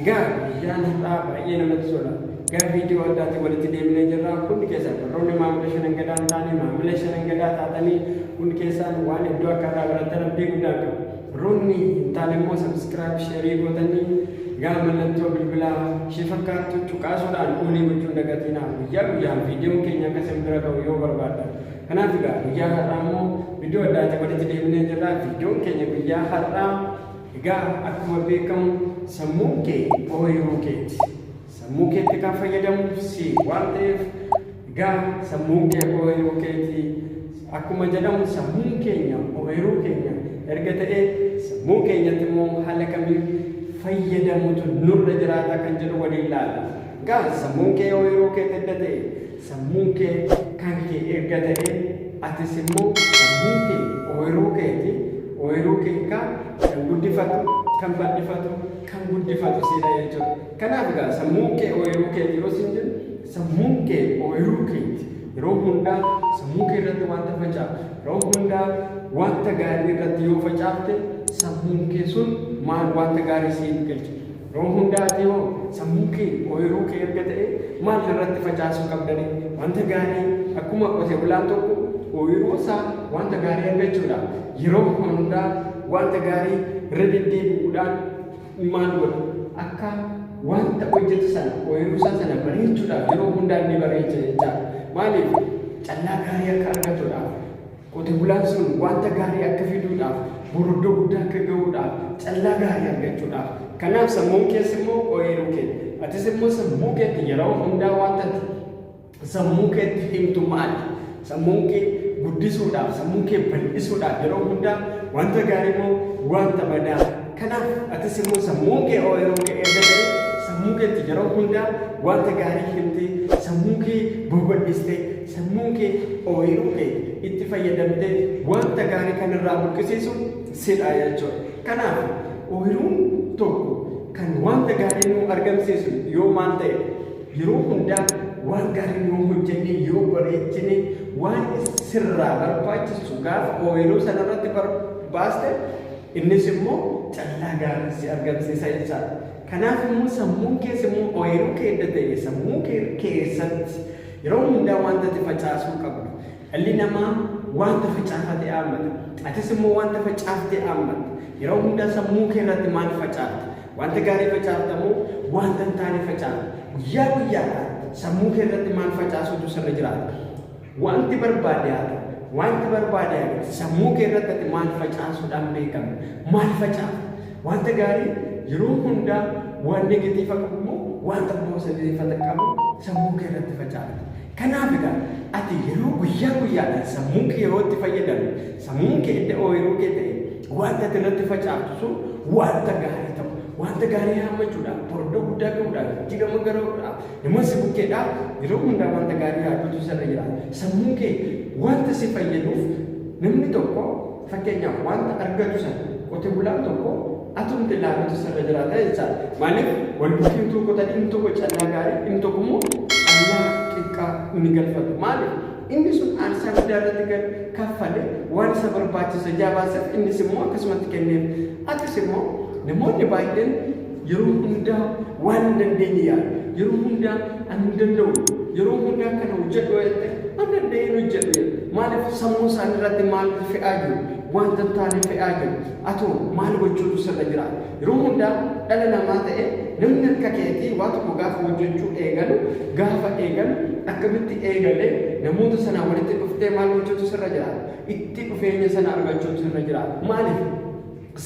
Egaa guyyaan har'aa baay'ee namatti tola. Gara viidiyoo addaatti walitti deemnee jirra. Hundi keessan warroonni maamila shanan gadaa hin taane maamila shanan gadaa taatanii hundi keessan waan hedduu akka irraa barattan abdii guddaa qabu. Warroonni hin taane immoo sabiskiraayib sheerii gootanii gara mallattoo bilbilaa ishee fakkaattu cuqaasuudhaan kuulii gochuun dagatinaa guyyaa guyyaan viidiyoon keenya akka isin bira ga'u yoo barbaadda. Kanaaf egaa guyyaa har'aa immoo viidiyoo addaatti walitti deemnee jirra. Viidiyoon keenya guyyaa har'aa Egaa akkuma beekamu sammuun kee ooyiruu keeti. Sammuu keetti kan fayyadamu si waan ta'eef egaa sammuun kee ooyiruu keeti. Akkuma jedhamu sammuun keenya ooyiruu keenya erga ta'e sammuu keenyatti immoo haala kamiin fayyadamutu nurra jiraata kan jedhu waliin ilaalla. Egaa sammuun kee ooyiruu keeti erga ta'e Sammuun kee kan kee erga ta'ee atis immoo sammuun kee ooyiruu keeti, ooyiruu kee kaa kan guddifatu, kan bal'ifatu, kan guddifatu siidha jechuudha. Kanaaf egaa sammuun kee ooyiruu keeti yeroo siin jennu sammuun kee ooyiruu keeti. Yeroo hundaa sammuu kee irratti wanta facaafu, yeroo hundaa wanta gaarii irratti yoo facaafte sammuun kee sun maal wanta gaarii siif galcha. Nama hundaati hoo sammuun kee ooyiruu kee erga ta'ee maal irratti facaasuu qabdani wanta gaarii akkuma qote bulaan tokko ooyiruu isaa wanta gaarii argachuudhaaf yeroo hundaa wanta gaarii irra deddeebi'uudhaan maal godha akka wanta hojjetu sana ooyiruu isaa sana bareechuudhaaf yeroo hundaa inni bareecha jechaadha maaliif callaa gaarii akka argatuudhaaf Qote bulaan sun wanta gaarii akka fiduudhaaf, boroddoo guddaa akka ga'uudhaaf, callaa gaarii argachuudhaaf. Kanaaf sammuun kees immoo ooyiruu kee ti. Atis immoo sammuu keetti yeroo hundaa wanta ati sammuu keetti himtu maal ti? Sammuun kee guddisuudhaaf, sammuu kee bal'isuudhaaf yeroo hundaa wanta gaarii moo wanta badaa? Kanaaf atis immoo sammuun kee ooyiruu kee erga ta'ee sammuu keetti yeroo hundaa wanta gaarii himtee sammuu kee babal'istee Sammuun kee ooyiruu kee itti fayyadamtee wanta gaarii kan irraa buqqisiisu sidha jechuudha. Kanaaf ooyiruun tokko kan wanta gaarii nuu argamsiisu yoo maal ta'e yeroo hundaa waan gaarii yoo hojjenne yoo bareechine waan sirraa barbaachisu gaafa ooyiruu sanarratti baaste innis immoo callaa gaarii si argamsiisa jechaadha. Kanaaf immoo sammuun kees immoo ooyiruu kee edda ta'e sammuu kee keessatti Yeroo hundaa wanta ati facaasuu qabda. Dhalli namaa wanta facaafate aammata. Atis immoo wanta facaafte aammatta. Yeroo hundaa sammuu kee irratti maal facaafta? Wanta gaarii facaafta moo wanta hin taane facaafta? Guyyaa guyyaadhaan sammuu kee irratti maal facaasuutu sirra jiraata? Wanti barbaade haa ta'u, wanti barbaade haa ga'u, sammuu kee irratti ati maal facaasuudhaan beekamta? Maal facaafta? Wanta gaarii yeroo hundaa waan negatiifa qabu immoo wanta poosatiifa qabu sammuu kee irratti facaafti. Kanaaf egaa ati yeroo guyyaa guyyaadhaan sammuu kee yeroo itti fayyadamne sammuun kee edda ooyiruu kee ta'e wanta ati irratti facaaftu sun wanta gaarii ta'u wanta gaarii haammachuudhaaf bordoo guddaa ga'uudhaaf jijjiirama garuudhaaf nama si bukkeedhaaf yeroo hundaa wanta gaarii yaaduutu sirra jira. Sammuu kee wanta si fayyaduuf namni tokko Fakkeenyaaf wanta argatu sana qote bulaan tokko atumti laalutu sirra jiraata jechaadha. Maaliif wal bukkee utuu qotan inni tokko callaa gaarii inni tokko immoo callaa xiqqaa inni galfatu. Maaliif inni sun aarsaa guddaa irratti kan kaffale waan isa barbaachisa jaabaasef innis immoo akkasumatti kenneef. Akkas immoo namoonni baay'een Yeroo hundaa waan hin dandeenye yaada. Yeroo hundaa ani hin danda'u. Yeroo hundaa kana hojjedhu yoo jette an danda'een hojjedhu jedha. Maaliif sammuu isaanii irratti maal fe'aa jiru? Wanta hin taane fe'aa jiru. Atoo maal gochuutu sirra jira? Yeroo hundaa dhala namaa ta'e namni akka keetii waa tokko gaafa hojjechuu eegalu gaafa eegalu akkamitti eegalee namoota sanaa walitti dhuftee maal gochuutu sirra jira? Itti dhufeenya sana argachuutu sirra jira. Maaliif?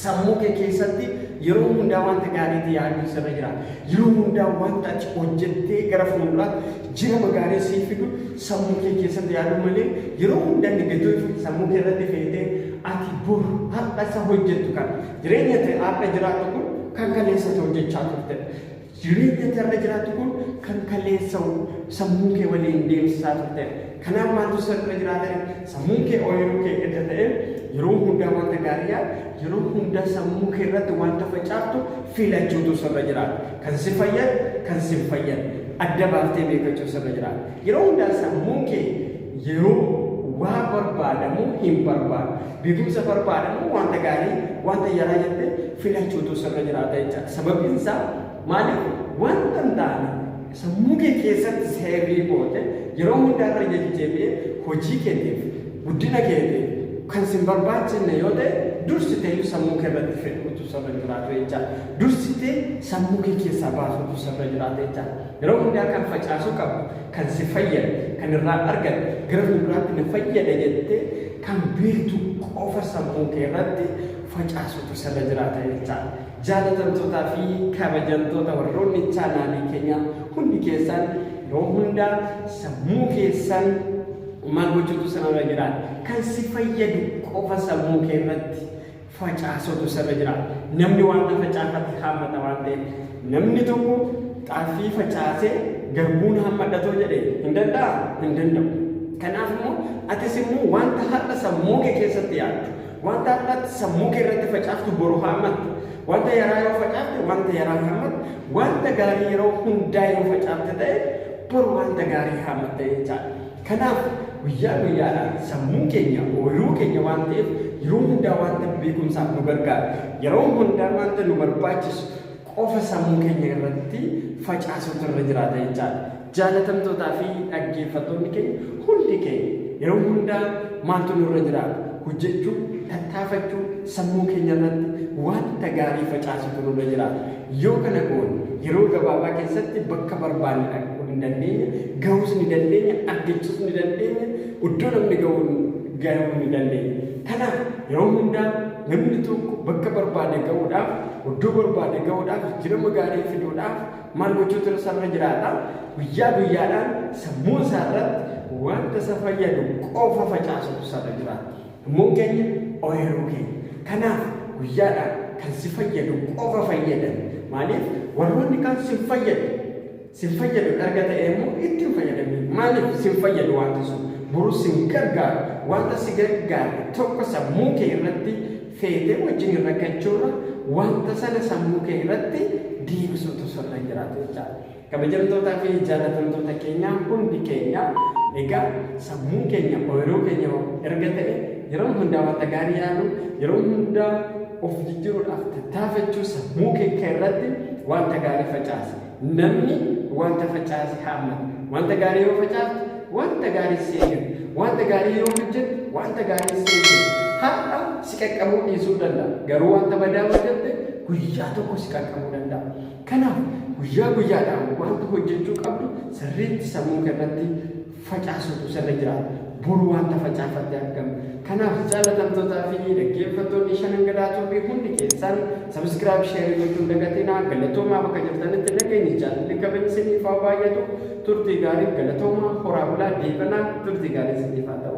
Sammuu kee keessatti yeroo hundaa wanta gaariitti yaaduun sirra jira. Yeroo hundaa wanta ati hojjettee gara fuulduraatti jirama gaarii siif fidu sammuu kee keessatti yaaduu malee yeroo hundaa negatiivii sammuu kee irratti feetee ati bor har'a isa hojjettu kana jireenya ta'e har'a jiraattu kun kan kaleessa ta'e hojjechaa turte. Jireenyi ati har'a jiraattu kun kan kaleessa sammuu kee waliin deemsisaa turtedha. Kanaaf maaltu sirra jiraatare? Sammuun kee ooyiruu kee edda ta'e yeroo hundaa wanta gaarii yaad, yeroo hundaa sammuu kee irratti wanta facaaftu filachuutu sirra jiraata. Kan si fayyadu, kan si hin fayyadne adda baaftee beekachuu sirra jiraata. Yeroo hundaa sammuun kee yeroo waa barbaadamu hin barbaadu. Beekumsa barbaadamu wanta gaarii, wanta yaraa jette filachuutu sirra jiraata jechaadha. Sababiin isaa maali? Wanta hin taane sammuu kee keessatti seerii goote yeroo hundaa irra deddeebi'ee hojii keetiif, guddina keetiif kan sin barbaachifne yoo ta'e dursiteeyyuu sammuu kee irratti fe'uutu sirra hin jiraatu jechaadha. Dursitee sammuu kee keessaa baasuutu sirra jiraata jechaadha. Yeroo hundaa kan facaasuu qabdu, kan si fayyadu, kan irraa argattu, gara fuulduraatti na fayyada jettee kan beektu qofa sammuu kee irratti facaasutu sirra jiraata jechaa. Jaalatamtootaa fi kabajamtoota warroonni chaanaalii keenya hundi keessan yeroo hundaa sammuu keessan maal gochuutu sirra jiraata? Kan si fayyadu qofa sammuu kee irratti facaasutu sirra jira. Namni wanta facaafate haammata waan ta'eef. Namni tokko xaafii facaasee garbuun haammadhatoo jedhe hin danda'a? Hin danda'u. Kanaaf immoo atis immoo wanta har'a sammuu kee keessatti yaaddu, wanta har'a sammuu kee irratti facaaftu boru haammatta. Wanta yaraa yoo facaafte wanta yaraa haammatta, wanta gaarii yeroo hundaa yoo facaafte ta'e boru wanta gaarii haammatta jechaadha. Kanaaf, guyyaa guyyaadhaan sammuun keenya ooyiruu keenya waan ta'eef, yeroo hundaa wanta beekumsaaf nu gargaaru, yeroo hundaa wanta nu barbaachisu qofa sammuu keenya irratti facaasuutu irra jiraata jechaa dha. Jaalatamtootaa fi dhaggeeffattoonni keenya hundi keenya yeroo hundaa maaltu nu irra jiraata? Hojjechuu, tattaafachuu, sammuu keenya irratti wanta gaarii facaasuutu nu irra jiraata. Yoo kana goone, yeroo gabaabaa keessatti bakka barbaanne dhaquu ni dandeenya, gahuus ni dandeenya, argachuus ni dandeenya, iddoo namni gahu gahuu ni dandeenya. Kanaaf, yeroo hundaa namni tokko bakka barbaade gahuudhaaf, iddoo barbaade gahuudhaaf, jijjiirama gaarii fiduudhaaf maal gochuutu isarra jiraata? Guyyaa guyyaadhaan sammuu isaarratti wanta isa fayyadu qofa facaasuutu isarra jiraata. Gummuun keenya ooyiruu keenya. Kanaaf guyyaadhaan kan si fayyadu qofa fayyadami. Maaliif warroonni kaan sin fayyadu. Sin fayyadu erga ta'ee immoo itti hin fayyadamiin. Maaliif sin fayyadu wanta sun. Borus sin gargaaru. Wanta si gargaare tokko sammuu kee irratti feetee wajjiniin rakkachuurra wanta sana sammuu kee irratti deebisuutu sirra jiraata jechaadha. Kabajamtootaa fi jaallatamtoota keenya hundi keenya egaa sammuun keenya ooyiruu keenya erga ta'e yeroo hundaa wanta gaarii yaalu yeroo hundaa of jijjiruudhaaf tattaafachuu sammuu keekka irratti wanta gaarii facaasi namni wanta facaase haammata wanta gaarii yoo facaaste wanta gaarii si eeggata wanta gaarii yoo hojjette wanta gaarii si eeggata har'a si qaqqabuu dhiisuu danda'a garuu wanta badaa hojjette guyyaa tokko si qaqqabuu danda'a Kanaaf, guyyaa guyyaadhaan wanta hojjechuu qabdu sirriitti sammuu kee irratti facaasuutu sirra jiraata. Bor wanta facaafatte argama. Kanaaf, jaallatamtootaa fi dhaggeeffattoonni Shanan Gadaa Tube hundi keessan Subscribe, Share gochuu hin dagatinaa. Galatoomaa bakka jirtanitti nageenyi, jaalalli, kabajni isiniif haa baay'atu. Turtii gaarii, galatoomaa, horaa bulaa, deebanaa, turtii gaarii isiniif haa ta'u.